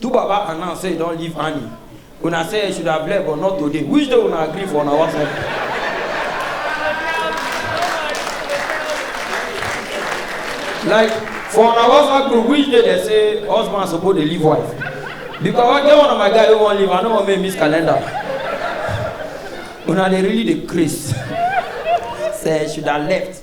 Do Baba announce say he don leave Annie. Una say he should have left but not today. Which day una agree for una WhatsApp? Like for una WhatsApp group, which day they say husband suppose dey leave wife? Because I get one of my guy wey wan leave, I no wan make him miss calendar. Una dey really dey craze. Say he should have left.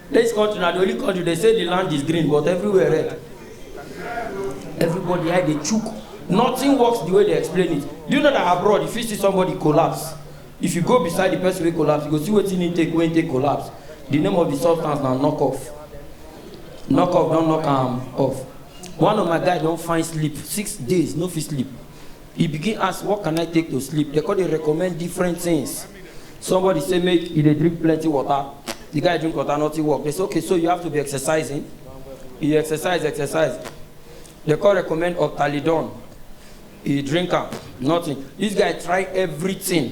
This country na the only country they say the land is green but everywhere red. Everybody eye dey chook. Nothing works the way they explain it. Do you know that abroad if you see somebody collapse, if you go beside the person wey collapse, you go see wetin he take when he take collapse. The name of the substance na knock off. Knock off don knock am off. One of my guy don find sleep six days no fit sleep. E begin ask what can I take to sleep, dem come dey recommend different things. Somebody say make e dey drink plenty water, the guy drink water nothing work, dem say okay so you have to be exercising, e exercise exercise, dem come recommend optalidone, e drink am nothing, this guy try everything.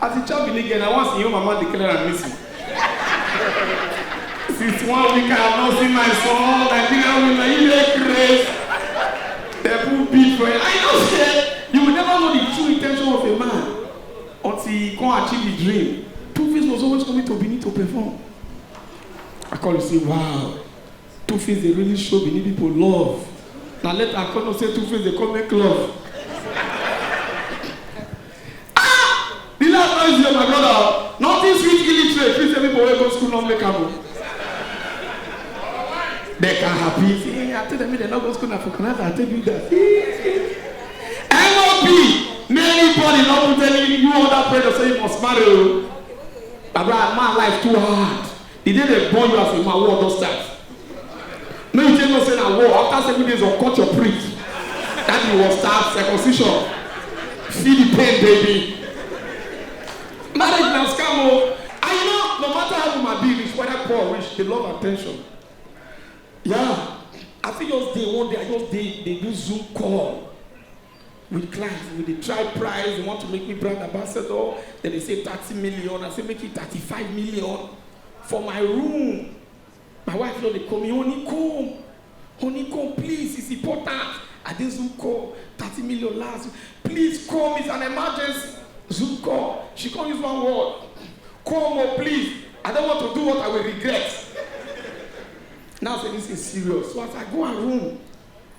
As a child believe na once your mama declare am missing. Since one week I have not seen my son, Nigeria women, you dey craze. They put beef for it. I know say you will never know the true intention of a man until he come achieve the dream. Two Face was always coming to Benin to perform. I call you say, wow, Two Face dey really show Benin people love. Na later I come know say Two Face dey come make love. Ah! The last no easy o my brother o. Nothing sweet illiterate fit say people wey go school no make am o. They can happy. Say, I tell them make dem no go school na for Canada I take do that. NOB many body no put any you under pressure say you must marry o. Baba man life too hard. E dey dey burn you as a man, war don start. Make you take note say na war, after seven days of cut your prick, that thing was start, circumcision. Feel the pain baby. Marriage na scam o. And you know, no matter how woman be reach, whether poor or rich, they love attention. Yeah, I fit just dey one day, I just dey dey do zoom call. with clients we dey try price they want to make me brand ambassador then they say thirty million i say make it thirty-five million for my room my wife don dey call me honeycomb honeycomb please it's important i dey zoom call thirty million last please come it's an emergency zoom call she come use one word come o please i don want to do what i will regret now say this is serious so as i go her room